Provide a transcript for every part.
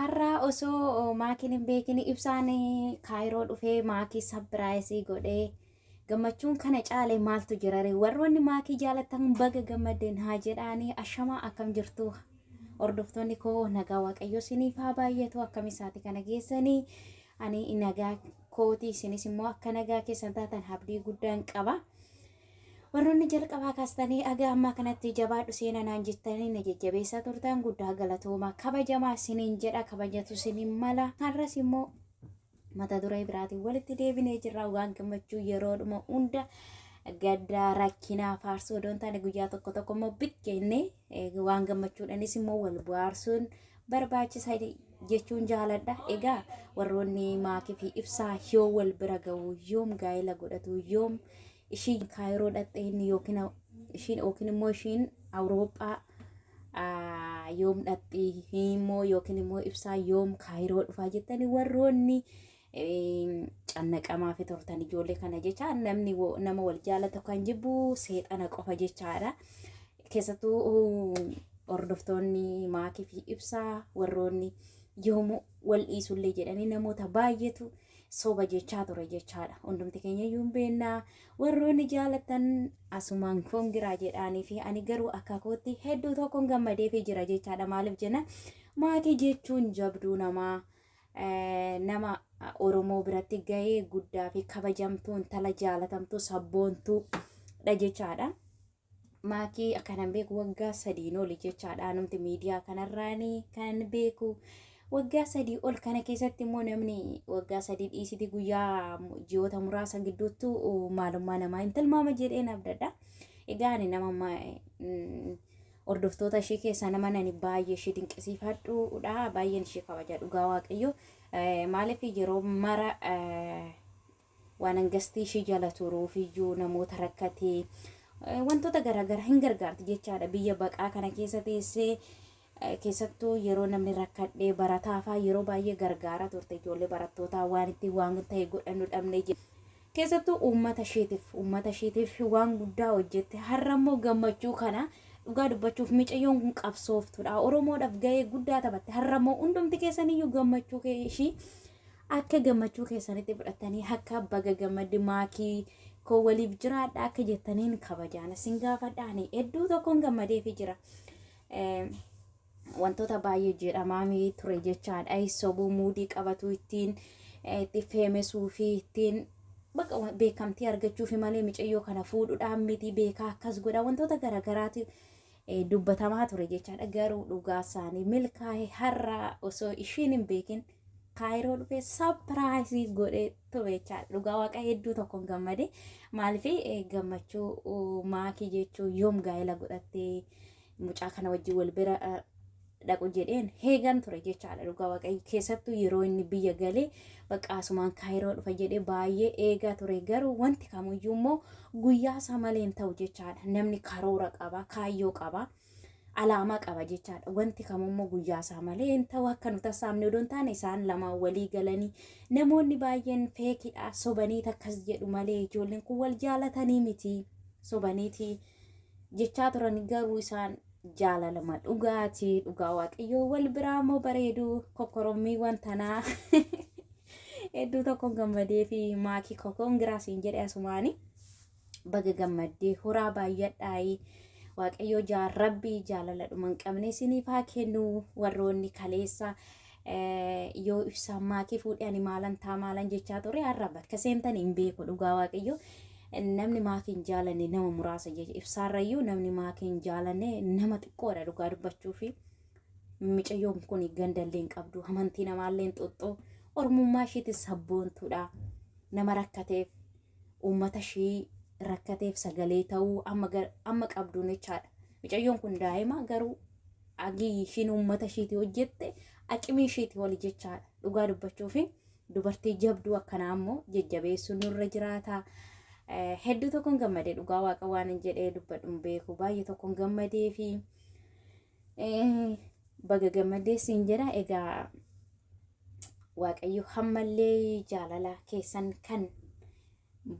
Har'aa osoo maakiin hin beekin ibsaan kaayiroo dhufee maakii sabbiraayisii godhee gammachuun kana caalee maaltu jirare warroonni maakii jaalatan baga gammadden haa jedhaanii ashamaa akkam jirtu hordoftoonni koo nagaa waaqayyoo siniif haa baay'atu akkam isaati kana geessanii ani nagaa kooti isinis immoo akka nagaa keessan taatan abdii guddaan qaba. Warroonni jalqabaa kaastanii aga ammaa kanatti jabaadhu seena naan jettanii na jajjabeessaa turtaan guddaa galatooma kabajamaa siniin jedha kabajatu siniin mala har'as immoo mata duree biraatiin walitti deebinee jirra waan gammachuu yeroodhuma hunda gaddaa rakkinaa faarsuu odoon taane guyyaa tokko tokko immoo biqqeenne waan gammachuudhanis immoo wal bohaarsuun barbaachisa jechuun jaaladha. Egaa warroonni maakii fi ibsaa yoo wal bira ga'u yoom gaa'ela godhatu yoom ishii kaayiroo dhaqxee inni yookiin ishiin yookiin immoo ishiin awuroophaa yoom dhaqxii immoo yookiin immoo ibsaa yoom kaayiroo dhufaa jettanii warroonni cannaqamaafi turtan ijoollee kana jecha namni wo- nama wal jaalatu kan jibbu seexana qofa jechaadha. Keessattuu hordoftoonni maakii fi ibsaa warroonni yoomuu wal dhiisullee jedhanii namoota baay'eetu soba jechaa ture jechaadha. Hundumti keenya iyyuu hin beekna. Warroonni jaalatan asumaan kongiraa jedhaanii fi ani garuu akka kootti hedduu tokkoon gammadeefii jira jechaadha. Maaliif jenna maakii jechuun jabduu namaa. nama Oromoo biratti gahee guddaa fi kabajamtuu intala jaalatamtuu sabboontuu dha jechaadha. Maakii kanan beeku waggaa sadiin oli jechaadha anumti miidiyaa kanarraan kanan beeku. Waggaa sadii ol kana keessatti immoo namni waggaa sadii dhiisiti guyyaa ji'oota muraasa gidduuttu maalummaa namaa hin tilmaama jedheen abdadha. Egaa ani nama Hordoftoota ishee keessaa nama nani baay'ee ishee dinqisiifadhuudha. Baay'een ishee kabaja dhugaa waaqayyo. Maaliif yeroo mara waan hangastii ishee jala turuuf iyyuu namoota rakkatee wantoota garaagaraa hin gargaarti jechaadha. Biyya baqaa kana keessa teessee keessattuu yeroo namni rakkadhee barataafaa yeroo baay'ee gargaara turte ijoollee barattootaa waan ittiin waan ta'e godhannu dhabne Keessattuu uummata ishiitiif uummata ishiitiif waan guddaa hojjette har'a immoo gammachuu kana dhugaa dubbachuuf micayyoon kun qabsooftuudha oromoodhaaf ga'ee guddaa taphatte har'a immoo hundumti keessaniyyuu gammachuu kee ishii akka gammachuu keessanitti fudhattanii akka baga gammadde maakii koo waliif jiraadha akka jettaniin kabajaan isin gaafadha ani hedduu tokkoon gammadeefi jira. Eh, wantoota baay'ee jedhamaamii ture jechaan ayi sobuu muudii qabatuu ittiin eh, itti feemesuu fi ittiin baqa wa- beekamtii argachuufi malee micayyoo kana fuudhudhaan miti beekaa akkas godha wantoota garagaraati eh, dubbatamaa ture jechaadha garuu dhugaa isaanii milkaa'e har'a osoo ishiin hin beekin kaayiroo dhufee sapiraayisii godhee ture jechaadha dhugaa waaqa hedduu tokkoon gammade maaliif gammachuu uh, maakii jechuu yoom gaa'ela godhattee mucaa kana wajjin wal bira dhaqu jedheen heegan ture jechaadha dhugaa waaqayyo keessattuu yeroo inni biyya galee bakka asumaan kaayiroo dhufa jedhee baay'ee eegaa ture garuu wanti kamuyyuu immoo guyyaa isaa malee hin ta'u jechaadha namni karoora qaba kaayyoo qaba alaamaa qaba jechaadha wanti kamummoo guyyaa isaa malee hin ta'u akka nu tassaabne odoo hin taane isaan lamaan walii galanii namoonni baay'een feekidha sobaniit akkas jedhu malee ijoolleen kun wal jaalatanii miti sobaniitii. jechaa turan garuu isaan jaalalama dhugaati dhugaa waaqayyoo wal biraa immoo bareedu kokkorommiiwwan tanaa hedduu tokko gammadee fi maakii kokoon giraasiin jedhe asumaani baga gammaddee horaa baay'adhaayii waaqayyoo jaa rabbii jaalala dhuma hin qabne isiniif haa kennu warroonni kaleessa yoo ibsaan maatii fuudhee ani maalan taa maalan jechaa ture har'a bakka seentan hin beeku dhugaa waaqayyo namni maatii hin jaalanne nama muraasa jecha ibsaarrayyuu namni maatii hin jaalanne nama xiqqoodha dhugaa dubbachuu fi micayyoon kun gandallee hin qabdu amantii namaallee hin xuxxu ormummaa ishiitis sabboontuudha nama rakkateef uummata ishii rakkateef sagalee ta'uu amma gar- amma qabduun jechaadha. Micayyoon kun daa'ima garuu agii ishiin uummata ishiiti hojjette aqimii ishiiti oli jechaadha. Dhugaa dubbachuu fi dubartii jabduu akkanaa immoo jajjabeessuun nurra jiraata. Eh, Hedduu tokkoon gammade dhugaa waaqa waan hin jedhee dubbadhu hin beeku baay'ee tokkoon gammadee fi Baga gammadee siin jedha egaa waaqayyo hammallee jaalala keessan kan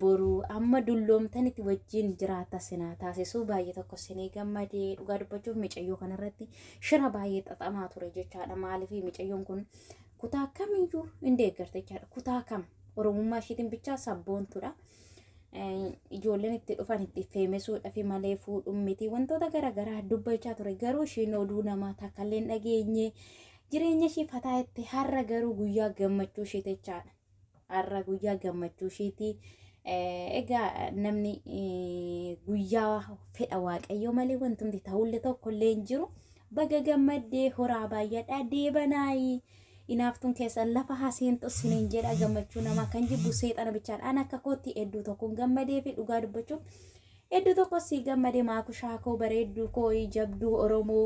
boru amma dulloomtanitti wajjin jiraata sinaa taasisuu baay'ee tokko sinii gammadee dhugaa dubbachuuf micayyoo kanarratti shira baay'ee xaxamaa ture jechaadha maaliif micayyoon kun kutaa kamiyyuu hin deeggarta jechaadha kutaa kam oromummaa ishiitiin bichaa sabboontuudha. ijoolleen itti dhufan itti feemesuudhaaf malee fuudhuun miti wantoota garaagaraa dubbachaa ture garuu ishiin oduu namaa takkallee hin dhageenye jireenya ishii fataa itti har'a garuu guyyaa gammachuu ishii jechaadha har'a guyyaa gammachuu ishiiti egaa namni guyyaa fedha waaqayyoo malee wantumti ta'ullee tokkollee hin jiru Baga gammaddee horaa baayyadhaa deebanaayi inaaftuun keessan lafa haseentu sinin jedha gammachuu namaa kan jibbu seexana bichaadha an akka kootti hedduu tokkoon gammadee fi dhugaa dubbachuuf hedduu tokko sii gammade maakushaa koo bareedduu koo jabduu oromoo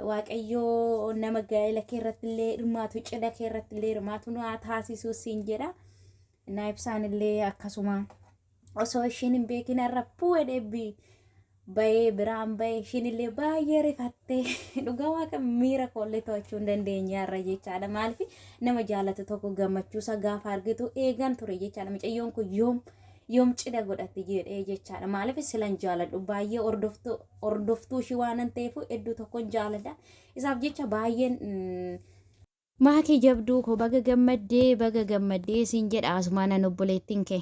waaqayyoo nama gaa'ela kee irratti illee hirmaatu cidha kee irratti illee hirmaatu nu haa taasisuu siin jedha. naa ibsaan illee akkasuma osoo ishiin hin beekin har'a puwe dheebbii bayee biraan bayee ishiin illee baay'ee rifattee dhugaa waaqa miira koollee to'achuu hin dandeenye har'a jechaadha maaliif nama jaalatu tokko gammachuusa gaafa argitu eegan ture jechaadha mucayyoon kun yoom yoom cidha godhatti jedhee jechaadha maaliif silan jaaladhu baay'ee hordoftuu hordoftuu ishii waanan ta'eef hedduu tokkon jaaladha isaaf jecha baay'een mm, Maakii jabduu koo baga gammaddee baga gammaddee siin jedha asumaan an obboleettiin kee.